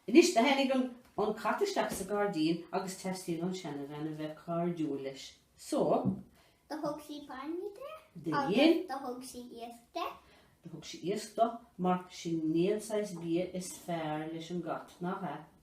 Anois do tháinig an an cat isteach sa gairdín agus teastaíonn an seanabhean a bheith cairdiúil leis. So. Do thug sí bainne do. Do dhein. Do thug sí iasc do. Do thug sí iasc do, mar sin níl aon saghas bia is fearr leis an gcat, nach ea?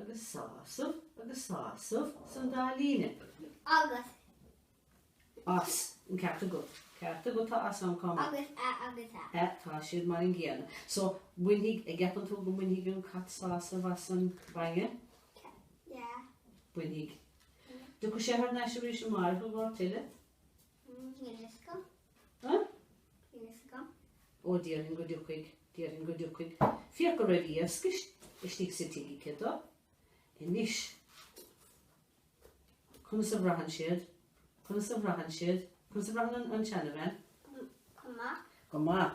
agus sásamh agus sásamh san dá líne. agus. as an cearta go. cearta go tá as ann cá mbeidh. agus a agus a. a tá siad mar an gcéanna. So, bainfidh, an gceapann tú go mbainfidh an cat sásamh as an bainne? yeah. bainfidh. Dtiocfaidh sé thar n-ais arís amárach i gcomhair tuilleadh? Iasc. Huh? Iasc. Ó, déarfainn go dtiocfaidh, déarfainn go dtiocfaidh. Féach go raibh iasc istigh sa tigh aici do. Anois, conas a bhraitheann siad, conas a bhraitheann siad, conas a bhraitheann an tseanabhean? Go maith. Go maith.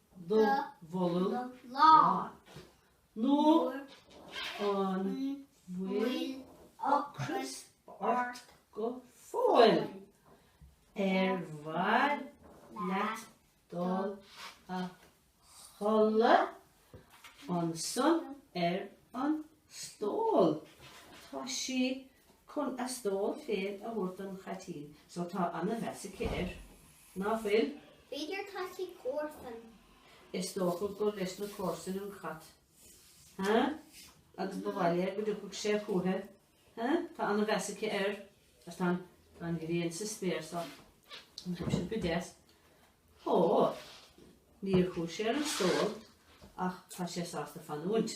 do bholg lán, nó an bhfuil ocras ort go fóill? Ar mhaith leat dul a chodladh ansan ar an stól? Tá sí chun a stól féin a thabhairt don chaitín so, tá ana-mheas aici air, ná fuil? B'fhéidir gur leis na comharsain. Is dócha gur leis na comharsain an cat. Ha? Agus ba mhaith léi go dtiocfadh sé chúichi. Ha? Tá ana-mheas aici air. Agus tá an, tá an ghrian sa spéir so. An chuaigh sé go deas? Ó, níor chuaigh sé ar an stól ach tá sé sásta fanúint.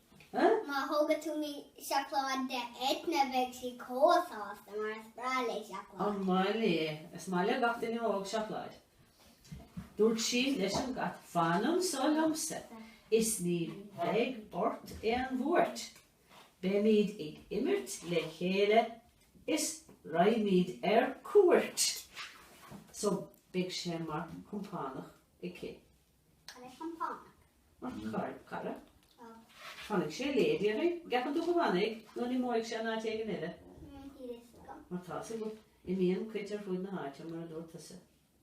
Má thógann tú mí seacláid do Eithne bheidh sí chomh sásta mar is breá léi seacláid. An maith léi é? Is maith le gach duine óg seacláid. Dúirt sí leis an gcat, Fan anseo liomsa is ní bheidh ort aon bhuairt. Beimid ag imirt le chéile is raghaimid ar cuairt. So beidh sé mar chompánach aici. Cad é compánach? Mar chara, Cara? Ó. Fanfaidh sé léi, déarfainn. An gceapann tú go bhfanfaidh nó an imeoidh sé in áit éigin eile? Níl fhios agam. Mar tá, is ea, go, imíonn cait ar fud na háite, mar a dúirt tusa.